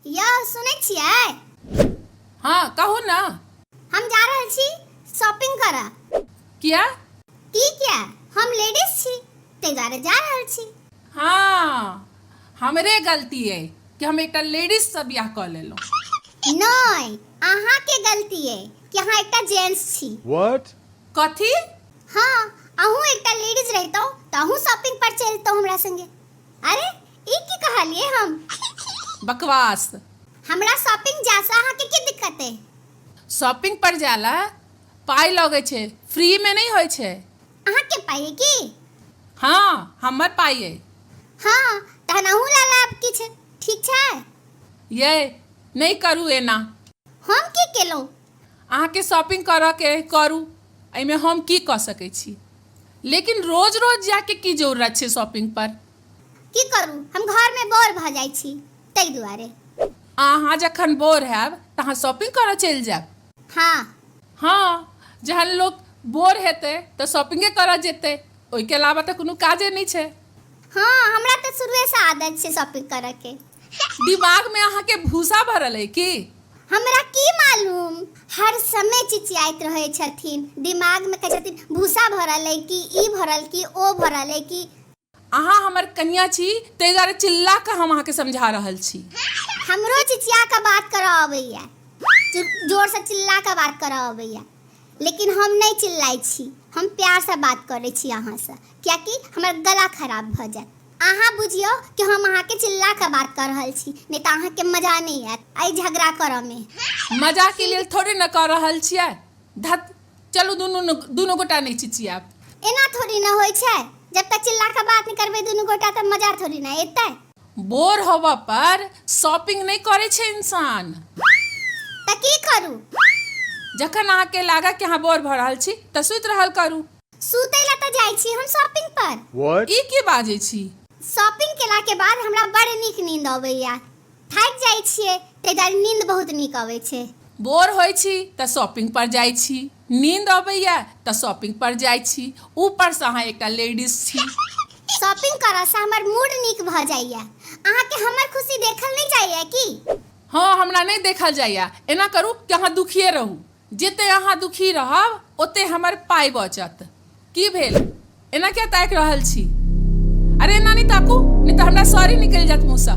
यौ सुनै छियै हाँ कहू ने हम जा रहल छी शॉपिंग करऽ किया की किया हम लेडीज छी ताहि दुआरे जा रहल छी हाँ हमरे गलती है कि हम एकटा लेडीज से बियाह कऽ लेलहुँ नहि अहाँके गलती अइ कि अहाँ एकटा जेंट्स छी What? कथी हाँ अहूँ एकटा लेडीज रहतौ तऽ अहूँ शॉपिंग पर चलतौ हमरा संगे अरे ई की कहलिए हम बकवास हमरा शॉपिंग जा से अहाँ के की दिक्कत है शॉपिंग पर जाला पाई लगे छे फ्री में नहीं होय छे अहाँ के पाई है की हाँ हमर पाई है हाँ तहन अहूँ ला लाब किछ ठीक छै ये नहीं करू एना हम की केलहुँ अहाँके शॉपिंग करऽके अइ करू एहिमे हम की कऽ सकै छी लेकिन रोज रोज जायके की जरूरत छै शॉपिंग पर की करू हम घर में बोर भऽ जाइ छी ताहि दुआरे अहाँ जखन बोर हैब तऽ अहाँ शॉपिंग करऽ चलि जायब हाँ हाँ जहन लोग बोर हेतै तऽ शॉपिंगे करऽ जेतै ओहिके अलावा तऽ कोनो काजे नहि छै हाँ हमरा तऽ शुरुए से आदत छै शॉपिंग करऽ के दिमाग में अहाँ के भूसा भरल है की हमरा की मालूम हर समय चिचियाइत रहे छथिन दिमाग में कहे छथिन भूसा भरल है कि ई भरल कि ओ भरल है कि अहाँ हमर कनिया छी ताहि दुआरे चिल्ला कऽ हम अहाँके समझा रहल छी हमरो चिचिया के बात करऽ अबैया जो- जोर से चिल्ला के बात करऽ अबैया लेकिन हम नहीं चिल्लाई छी हम प्यार से बात करे छी अहाँ से कियाकि हमर गला खराब भऽ जायत अहाँ बुझियौ कि हम अहाँके चिल्ला के बात कर रहल छी नहीं तो अहाँ के मजा नहीं आयत आई झगड़ा कर में मजा के लिए थोड़े न कर रहल छियै धत चलू दुनू दुनू गोटा नहीं चिचियाब एना थोड़ी न होय छै जब तक चिल्ला के बात नहीं करबे दुनू गोटा त मजा थोड़ी न एतै बोर होबऽ पर शॉपिंग नहीं करे छै इंसान त की करू जखन अहाँके लागत कि अहाँ बोर भऽ रहल छी तऽ सुति रहल करू सुतै ला तऽ जाइ छी हम शॉपिंग पर What? ई की बाजै छी शॉपिंग केला के बाद हमरा बड़ नीक नींद अबैया थाकि जाइ छियै ताहि दुआरे नींद बहुत नीक अबै छै बोर होइ छी तऽ शॉपिंग पर जाइ छी नींद अबैया तऽ शॉपिंग पर जाइ छी ऊपर से अहाँ एकटा लेडीज छी शॉपिंग करऽ से हमर मूड नीक भऽ जाइया अहाँके हमर खुशी देखल नहि जाइया की हँ हमरा नहि देखल जाइया एना करू कि अहाँ दुखिए रहू जेते अहाँ दुखी रहब ओते हमर पाइ बचत की भेल एना किया ताकि रहल छी अरे एना नहि ताकू नहि तऽ हमरा सॉरी निकलि जायत मुँहसँ